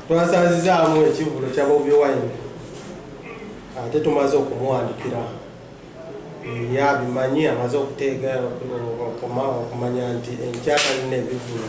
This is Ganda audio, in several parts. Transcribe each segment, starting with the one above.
twasazizaamu ekivulu kya bobi wine ate tumaze okumuwandikira yabimanyi amaze okuteega okumanya nti enkyaka lina ebivulu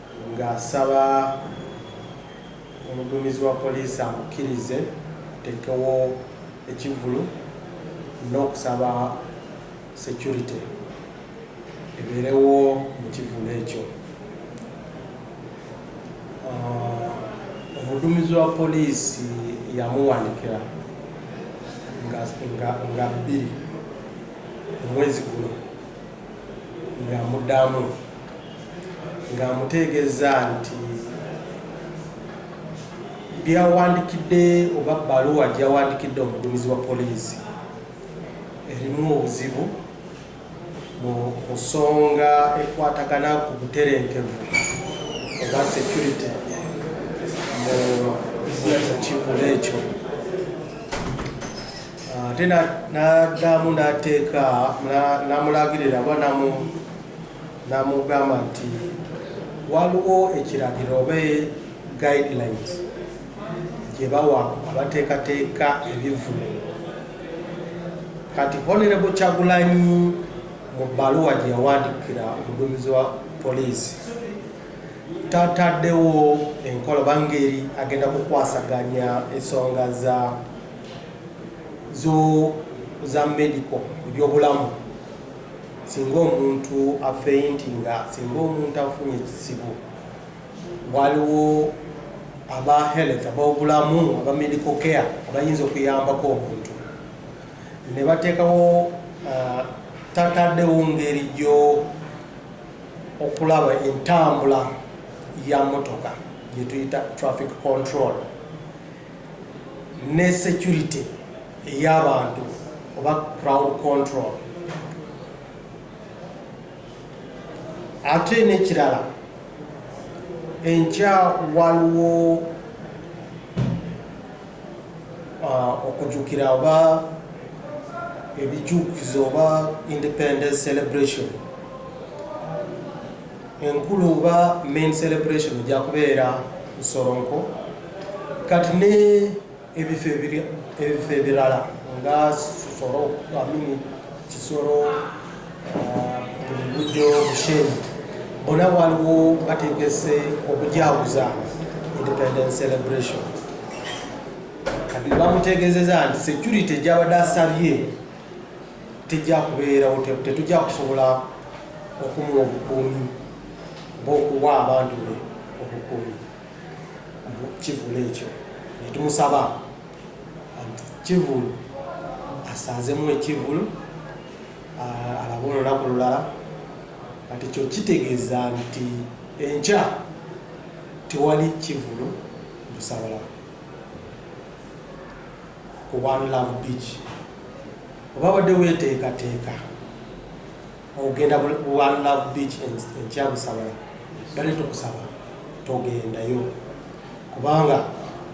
ng'asaba omuduumizi wa poliisi amukkirize ateekewo ekivvulu n'okusaba securite ebeerewo mu kivvulu ekyo omuduumizi wa poliisi yamuwandikira nga bbiri omwezi guno ng'amudamu ng'amuteegeza nti byawandikidde oba baluwa gyawandikidde omudumizi wa poliisi erimu obuzibu mu nsonga ekwatagana ku buterenkevu oba security mu kivula ekyo ate n'addamu n'ateeka n'amulagirira oba n'amugamba nti waliwo ekiragiro oba guidelines gye bawa abateekateeka ebivulu kati honorable kyagulanyi mu bbaluwa gye yawandikira omuduumizi wa poliisi tataddewo enkola bangeri agenda kukwasaganya ensonga za zo za medical ebyobulamu singa omuntu afeinti nga singa omuntu afunye ekizibu waliwo aba health abobulamu aba medical care abayinza okuyambako omuntu ne bateekawo uh, tataddewo ngeri gyo okulaba entambula ya motoka gyetuyita traffic control ne securite eyabantu oba crowd control ate nekirala enkya waliwo uh, okujukira oba ebijukizo oba independence celebration enkulu oba main celebration ejja kubeera nsoronko kati ne ebifo ebirala nga soro amini kisoro bujjo uh, bushenyi bona waliwo bategese okujawuza independence celebration kati bamutegezeza nti security gyabadde asabye tejja kubeerawo, tetujja kusobola okumuwa obukuumi bw'okuwa abantu be obukuumi kivulu ekyo netumusaba kivulu asaazemu ekivulu alabe olunaku lulala kati kyo kitegeeza nti enkya tewali kivulu busabala ku one love beach oba wadde weteekateeka ogenda one love beach enkyabusabala bale tukusaba togendayo kubanga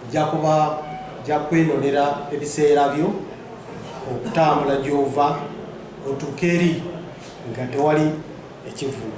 ojja kuba ojja kwenonera ebiseera byo okutambula gyova otuuka eri nga tewali ekivulu